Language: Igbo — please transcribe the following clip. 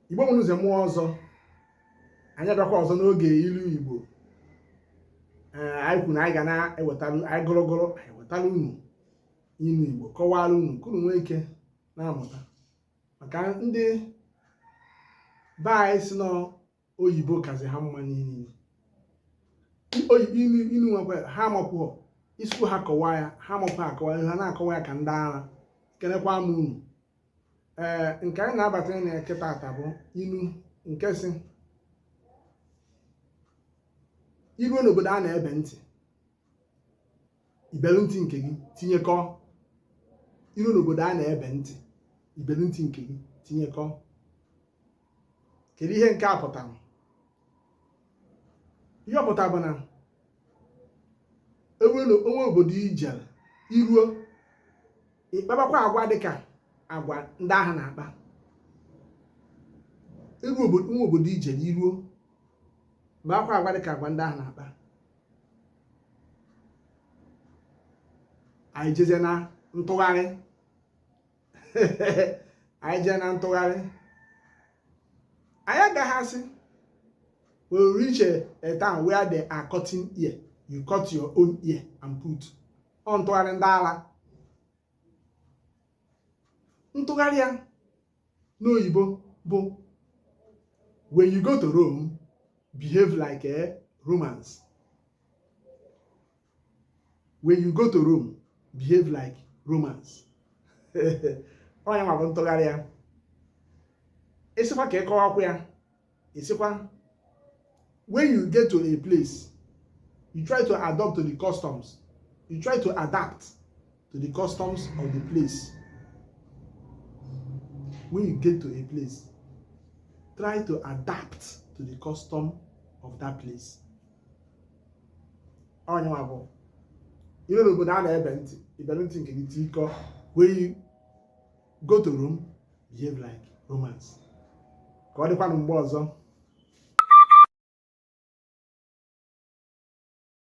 igbo mụrụ nze mụọ ọzọ anyị abịakwa ọzọ n'oge ilu igbo ee anyị kwuru na anyị ga na-ewetara anyị gụrụgụrụ anyị wetara unu ilu igbo kọwara unu ka unu nwee ike na-amụta maka ndị be anyị si nọ oyibo kazi ha mma n'ili inu nwekwa ha amakwụọ isi ha kọwa ya ha amakwụọ akọwa ha na-akọwa ya ka ndị ara kelekwa m unu ee nke anyị na-abata na ya kịta taa bụ inu nke sị i ruo n'obodo a na-ebe ntị i belu ntị nke gị tinyekọ i ruo n'obodo a na-ebe ntị i belu ntị nke gị tinyekọ kedu ihe nke a pụtara ihe ọ pụtara bụ na e nwere o nwee obodo i jere i ruo ị kpabakwa agwa dịka agwa ndị ahụ na-akpa o nwee obodo i jere i ruo kpabakwa agwa dịka agwa ndị ahụ na-akpa anyị jezie na ntụgharị anyị jee na ntụgharị anyị agaghị asị we reach a, a town where they are cutting ear you cut your own ear and put ọ ntụgharị ndị ala ntụgharị ya n'oyibo bụ when you go to Rome behave like Romans when you go to Rome behave like Romans onye nwabụ ntụgharị ya ịsịkwa ka ịkọwa akwụ ya ịsịkwa when you get to a place you try to adopt to the customs you try to adapt to the customs of the place when you get to a place try to adapt to the custom of that place ọ ya nwa bụ i rue n'obodo a na-ebe ntị i bere ntị nke gị tiikọ when you go to Rome behave like Romans ka ọ dịkwanụ mgbe ọzọ